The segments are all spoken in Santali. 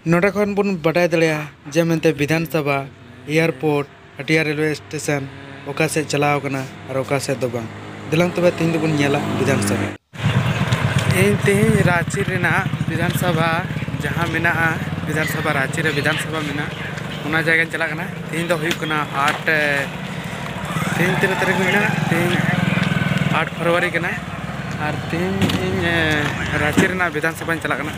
ᱱᱚᱰᱮ ᱠᱷᱚᱱ ᱵᱚᱱ ᱵᱟᱰᱟᱭ ᱫᱟᱲᱮᱭᱟᱜᱼᱟ ᱡᱮ ᱢᱮᱱᱛᱮ ᱵᱤᱫᱷᱟᱱ ᱥᱚᱵᱷᱟ ᱮᱭᱟᱨᱯᱳᱨᱴ ᱦᱟᱴᱤᱭᱟ ᱨᱮᱞᱣᱮ ᱥᱴᱮᱥᱚᱱ ᱚᱠᱟ ᱥᱮᱫ ᱪᱟᱞᱟᱣ ᱟᱠᱟᱱᱟ ᱟᱨ ᱚᱠᱟ ᱥᱮᱫ ᱫᱚ ᱵᱟᱝ ᱫᱮᱞᱟᱝ ᱛᱚᱵᱮ ᱛᱮᱦᱮᱧ ᱫᱚᱵᱚᱱ ᱧᱮᱞᱟ ᱵᱤᱫᱷᱟᱱ ᱥᱚᱵᱷᱟ᱾ ᱤᱧ ᱛᱮᱦᱮᱧ ᱨᱟᱺᱪᱤ ᱨᱮᱱᱟᱜ ᱵᱤᱫᱷᱟᱱ ᱥᱚᱵᱷᱟ ᱡᱟᱦᱟᱸ ᱢᱮᱱᱟᱜᱼᱟ ᱵᱤᱫᱷᱟᱱ ᱥᱚᱵᱷᱟ ᱨᱟᱺᱪᱤ ᱨᱮ ᱵᱤᱫᱷᱟᱱ ᱥᱚᱵᱷᱟ ᱢᱮᱱᱟᱜᱼᱟ ᱚᱱᱟ ᱡᱟᱭᱜᱟᱧ ᱪᱟᱞᱟᱜ ᱠᱟᱱᱟ ᱛᱮᱦᱮᱧ ᱫᱚ ᱦᱩᱭᱩᱜ ᱠᱟᱱᱟ ᱟᱴ ᱛᱮᱦᱮᱧ ᱛᱤᱱᱟᱹᱜ ᱛᱟᱹᱨᱤᱠᱷ ᱦᱩᱭᱱᱟ ᱛᱮᱦᱮᱧ ᱟᱴ ᱯᱷᱮᱵᱽᱨᱩᱣᱟᱨᱤ ᱠᱟᱱᱟ ᱟᱨ ᱛᱮᱦᱮᱧ ᱤᱧ ᱨᱟᱺᱪᱤ ᱨᱮᱱᱟᱜ ᱵᱤᱫᱷᱟᱱ ᱥᱚᱵᱷᱟᱧ ᱪᱟᱞᱟᱜ ᱠᱟᱱᱟ᱾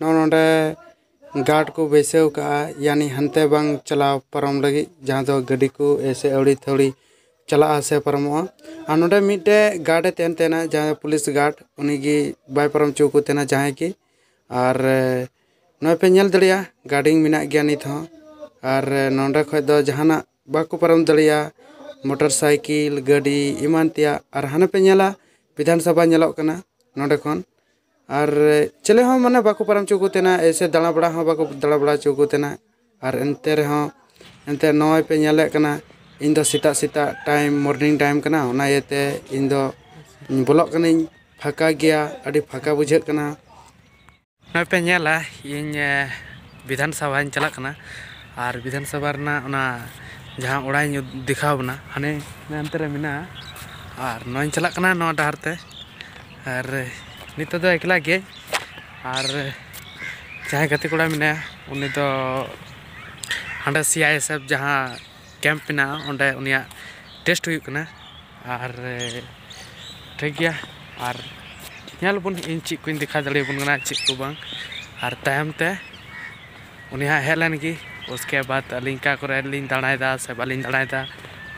ᱱᱚᱜᱼᱚᱸᱭ ᱱᱚᱰᱮ ᱜᱟᱨᱰ ᱠᱚ ᱵᱟᱹᱭᱥᱟᱹᱣ ᱠᱟᱜᱼᱟ ᱭᱟᱱᱤ ᱦᱟᱱᱛᱮ ᱵᱟᱝ ᱪᱟᱞᱟᱣ ᱯᱟᱨᱚᱢ ᱞᱟᱹᱜᱤᱫ ᱡᱟᱦᱟᱸ ᱫᱚ ᱜᱟᱹᱰᱤ ᱠᱚ ᱮᱭᱥᱮ ᱟᱹᱣᱲᱤ ᱛᱷᱟᱹᱣᱲᱤ ᱪᱟᱞᱟᱜᱼᱟ ᱥᱮ ᱯᱟᱨᱚᱢᱚᱜᱼᱟ ᱟᱨ ᱱᱚᱰᱮ ᱢᱤᱫᱴᱮᱡ ᱜᱟᱨᱰ ᱮ ᱛᱟᱦᱮᱱ ᱛᱟᱦᱮᱱᱟ ᱡᱟᱦᱟᱸᱭ ᱯᱩᱞᱤᱥ ᱜᱟᱨᱰ ᱩᱱᱤ ᱜᱮ ᱵᱟᱭ ᱯᱟᱨᱚᱢ ᱦᱚᱪᱚ ᱠᱚ ᱛᱟᱦᱮᱱᱟ ᱡᱟᱦᱟᱸᱭ ᱜᱮ ᱟᱨ ᱱᱚᱜᱼᱚᱸᱭ ᱯᱮ ᱧᱮᱞ ᱫᱟᱲᱮᱭᱟᱜᱼᱟ ᱜᱟᱨᱰᱤᱝ ᱢᱮᱱᱟᱜ ᱜᱮᱭᱟ ᱱᱤᱛ ᱦᱚᱸ ᱟᱨ ᱱᱚᱰᱮ ᱠᱷᱚᱡ ᱫᱚ ᱡᱟᱦᱟᱱᱟᱜ ᱵᱟᱠᱚ ᱯᱟᱨᱚᱢ ᱫᱟᱲᱮᱭᱟᱜᱼᱟ ᱢᱚᱴᱚᱨ ᱥᱟᱭᱠᱤᱞ ᱜᱟᱹᱰᱤ ᱮᱢᱟᱱ ᱛᱮᱭᱟᱜ ᱟᱨ ᱦᱟᱱᱮ ᱯᱮ ᱧᱮᱞᱟ ᱵᱤᱫᱷᱟᱱ ᱥᱚᱵᱷᱟ ᱧᱮᱞᱚᱜ ᱠᱟᱱᱟ ᱱᱚᱰᱮ ᱠᱷᱚᱱ ᱟᱨ ᱪᱮᱞᱮ ᱦᱚᱸ ᱢᱟᱱᱮ ᱵᱟᱠᱚ ᱯᱟᱨᱚᱢ ᱦᱚᱪᱚ ᱠᱚ ᱛᱟᱦᱮᱱᱟ ᱮᱭᱥᱮ ᱫᱟᱬᱟ ᱵᱟᱲᱟ ᱦᱚᱸ ᱵᱟᱠᱚ ᱫᱟᱬᱟ ᱵᱟᱲᱟ ᱦᱚᱪᱚ ᱠᱚ ᱛᱟᱦᱮᱱᱟ ᱟᱨ ᱮᱱᱛᱮ ᱨᱮᱦᱚᱸ ᱮᱱᱛᱮ ᱱᱚᱜᱼᱚᱸᱭ ᱯᱮ ᱧᱮᱞᱮᱜ ᱠᱟᱱᱟ ᱤᱧ ᱫᱚ ᱥᱮᱛᱟᱜ ᱥᱮᱛᱟᱜ ᱴᱟᱭᱤᱢ ᱢᱚᱨᱱᱤᱝ ᱴᱟᱭᱤᱢ ᱠᱟᱱᱟ ᱚᱱᱟ ᱤᱭᱟᱹᱛᱮ ᱤᱧ ᱫᱚ ᱵᱚᱞᱚᱜ ᱠᱟᱹᱱᱟᱹᱧ ᱯᱷᱟᱸᱠᱟ ᱜᱮᱭᱟ ᱟᱹᱰᱤ ᱯᱷᱟᱸᱠᱟ ᱵᱩᱡᱷᱟᱹᱜ ᱠᱟᱱᱟ ᱱᱚᱜᱼᱚᱸᱭ ᱯᱮ ᱧᱮᱞᱟ ᱤᱧ ᱵᱤᱫᱷᱟᱱ ᱥᱚᱵᱷᱟᱧ ᱪᱟᱞᱟᱜ ᱠᱟᱱᱟ ᱟᱨ ᱵᱤᱫᱷᱟᱱ ᱥᱚᱵᱷᱟ ᱨᱮᱱᱟᱜ ᱚᱱᱟ ᱡᱟᱦᱟᱸ ᱚᱲᱟᱜ ᱤᱧ ᱫᱮᱠᱷᱟᱣ ᱵᱚᱱᱟ ᱦᱟᱱᱮ ᱦᱟᱱᱛᱮ ᱨᱮ ᱢᱮᱱᱟᱜᱼᱟ ᱟᱨ ᱱᱚᱜᱼᱚᱸᱭ ᱤᱧ ᱪᱟᱞᱟᱜ ᱠᱟᱱᱟ ᱱᱚᱣᱟ ᱰᱟᱦᱟᱨ ᱛᱮ ᱟᱨ ᱱᱤᱛᱚᱜ ᱫᱚ ᱮᱠᱞᱟ ᱜᱮ ᱟᱨ ᱡᱟᱦᱟᱸᱭ ᱜᱟᱛᱮ ᱠᱚᱲᱟ ᱢᱮᱱᱟᱭᱟ ᱩᱱᱤ ᱫᱚ ᱦᱟᱸᱰᱮ ᱥᱤ ᱟᱭ ᱮᱥ ᱮᱯᱷ ᱡᱟᱦᱟᱸ ᱠᱮᱢᱯ ᱢᱮᱱᱟᱜᱼᱟ ᱚᱸᱰᱮ ᱩᱱᱤᱭᱟᱜ ᱴᱮᱥᱴ ᱦᱩᱭᱩᱜ ᱠᱟᱱᱟ ᱟᱨ ᱴᱷᱤᱠ ᱜᱮᱭᱟ ᱟᱨ ᱧᱮᱞ ᱟᱵᱚᱱ ᱤᱧ ᱪᱮᱫ ᱠᱚᱧ ᱫᱮᱠᱷᱟᱣ ᱫᱟᱲᱮᱭᱟᱵᱚᱱ ᱠᱟᱱᱟ ᱪᱮᱫ ᱠᱚ ᱵᱟᱝ ᱟᱨ ᱛᱟᱭᱚᱢ ᱛᱮ ᱩᱱᱤ ᱦᱟᱸᱜ ᱦᱮᱡ ᱞᱮᱱ ᱜᱮ ᱩᱥᱠᱮ ᱵᱟᱫ ᱟᱹᱞᱤᱧ ᱚᱠᱟ ᱠᱚᱨᱮ ᱞᱤᱧ ᱫᱟᱬᱟᱭᱮᱫᱟ ᱥᱮ ᱵᱟᱹᱞᱤᱧ ᱫᱟᱬᱟᱭᱮᱫᱟ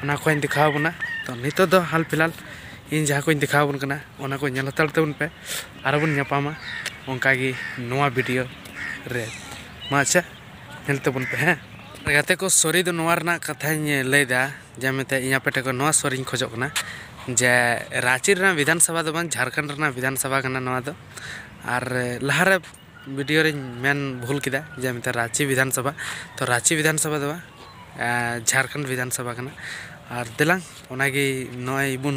ᱚᱱᱟ ᱠᱚᱦᱚᱧ ᱫᱮᱠᱷᱟᱣ ᱟᱵᱚᱱᱟ ᱛᱚ ᱱᱤᱛᱚᱜ ᱫᱚ ᱦᱟᱞ ᱯᱷᱤᱞᱦᱟᱞ ᱤᱧ ᱡᱟᱦᱟᱸ ᱠᱚᱧ ᱫᱮᱠᱷᱟᱣ ᱟᱵᱚᱱ ᱠᱟᱱᱟ ᱚᱱᱟ ᱠᱚ ᱧᱮᱞ ᱦᱟᱛᱟᱲ ᱛᱟᱵᱚᱱ ᱯᱮ ᱟᱨᱚ ᱵᱚᱱ ᱧᱟᱯᱟᱢᱟ ᱚᱱᱠᱟ ᱜᱮ ᱱᱚᱣᱟ ᱵᱷᱤᱰᱤᱭᱳ ᱨᱮ ᱢᱟ ᱟᱪᱪᱷᱟ ᱧᱮᱞ ᱛᱟᱵᱚᱱ ᱯᱮ ᱦᱮᱸ ᱜᱟᱛᱮ ᱠᱚ ᱥᱚᱨᱤ ᱫᱚ ᱱᱚᱣᱟ ᱨᱮᱱᱟᱜ ᱠᱟᱛᱷᱟᱧ ᱞᱟᱹᱭᱫᱟ ᱡᱮ ᱢᱮᱱᱛᱮ ᱤᱧ ᱟᱯᱮ ᱴᱷᱮᱱ ᱠᱷᱚᱱ ᱱᱚᱣᱟ ᱥᱚᱨᱤᱧ ᱠᱷᱚᱡᱚᱜ ᱠᱟᱱᱟ ᱡᱮ ᱨᱟᱺᱪᱤ ᱨᱮᱱᱟᱜ ᱵᱤᱫᱷᱟᱱ ᱥᱚᱵᱷᱟ ᱫᱚ ᱵᱟᱝ ᱡᱷᱟᱲᱠᱷᱚᱸᱰ ᱨᱮᱱᱟᱜ ᱵᱤᱫᱷᱟᱱ ᱥᱚᱵᱷᱟ ᱠᱟᱱᱟ ᱱᱚᱣᱟ ᱫᱚ ᱟᱨ ᱞᱟᱦᱟᱨᱮ ᱵᱷᱤᱰᱤᱭᱳ ᱨᱤᱧ ᱢᱮᱱ ᱵᱷᱩᱞ ᱠᱮᱫᱟ ᱡᱮ ᱢᱮᱱᱛᱮ ᱨᱟᱺᱪᱤ ᱵᱤᱫᱷᱟᱱ ᱥᱚᱵᱷᱟ ᱛᱚ ᱨᱟᱺᱪᱤ ᱵᱤᱫᱷᱟᱱ ᱥᱚᱵᱷᱟ ᱫᱚ ᱵᱟᱝ ᱡᱷᱟᱲᱠᱷᱚᱸᱰ ᱵᱤᱫᱷᱟᱱ ᱥᱚᱵᱷᱟ ᱠᱟᱱᱟ ᱟᱨ ᱫᱮᱞᱟᱝ ᱚᱱᱟᱜᱮ ᱱᱚᱜᱼᱚᱭ ᱵᱚᱱ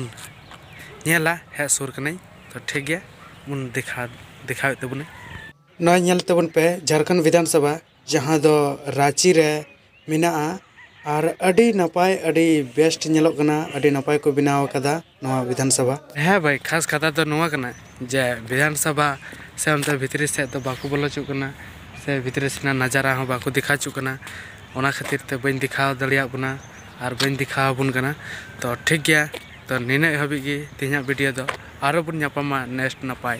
ᱧᱮᱞᱟ ᱦᱮᱡ ᱥᱩᱨ ᱠᱟᱹᱱᱟᱹᱧ ᱛᱚ ᱴᱷᱤᱠ ᱜᱮᱭᱟ ᱵᱚᱱ ᱫᱮᱠᱷᱟᱣ ᱫᱮᱠᱷᱟᱣᱮᱫ ᱛᱟᱵᱚᱱᱟᱹᱧ ᱱᱚᱜᱼᱚᱭ ᱧᱮᱞ ᱛᱟᱵᱚᱱ ᱯᱮ ᱡᱷᱟᱲᱠᱷᱚᱸᱰ ᱵᱤᱫᱷᱟᱱ ᱥᱚᱵᱷᱟ ᱡᱟᱦᱟᱸ ᱫᱚ ᱨᱟᱺᱪᱤ ᱨᱮ ᱢᱮᱱᱟᱜᱼᱟ ᱟᱨ ᱟᱹᱰᱤ ᱱᱟᱯᱟᱭ ᱟᱹᱰᱤ ᱵᱮᱥᱴ ᱧᱮᱞᱚᱜ ᱠᱟᱱᱟ ᱟᱹᱰᱤ ᱱᱟᱯᱟᱭ ᱠᱚ ᱵᱮᱱᱟᱣ ᱟᱠᱟᱫᱟ ᱱᱚᱣᱟ ᱵᱤᱫᱷᱟᱱ ᱥᱚᱵᱷᱟ ᱦᱮᱸ ᱵᱷᱟᱹᱭ ᱠᱷᱟᱥ ᱠᱟᱛᱷᱟ ᱫᱚ ᱱᱚᱣᱟ ᱠᱟᱱᱟ ᱡᱮ ᱵᱤᱫᱷᱟᱱ ᱥᱚᱵᱷᱟ ᱥᱮ ᱚᱱᱛᱮ ᱵᱷᱤᱛᱨᱤ ᱥᱮᱫ ᱫᱚ ᱵᱟᱠᱚ ᱵᱚᱞᱚ ᱦᱚᱪᱚᱜ ᱠᱟᱱᱟ ᱥᱮ ᱵᱷᱤᱛᱨᱤ ᱥᱮᱱᱟᱜ ᱱᱟᱡᱟᱨᱟ ᱦᱚᱸ ᱵᱟᱠᱚ ᱫᱮᱠᱷᱟ ᱦᱚᱪᱚᱜ ᱠᱟᱱᱟ ᱚᱱᱟ ᱠᱷᱟᱹᱛᱤᱨ ᱛᱮ ᱵᱟᱹᱧ ᱫᱮᱠᱷᱟᱣ ᱫᱟᱲᱮᱭᱟᱜ ᱵᱚᱱᱟ ᱟᱨ ᱵᱟᱹᱧ ᱫᱮᱠᱷᱟᱣ ᱟᱵᱚᱱ ᱠᱟᱱᱟ ᱛᱚ ᱴᱷᱤᱠ ᱜᱮᱭᱟ ᱛᱚ ᱱᱤᱱᱟᱹᱜ ᱦᱟᱹᱵᱤᱡ ᱜᱮ ᱛᱮᱦᱮᱧᱟᱜ ᱵᱷᱤᱰᱤᱭᱳ ᱫᱚ ᱟᱨᱚ ᱵᱚᱱ ᱧᱟᱯᱟᱢᱟ ᱱᱮᱠᱥᱴ ᱱᱟᱯᱟᱭ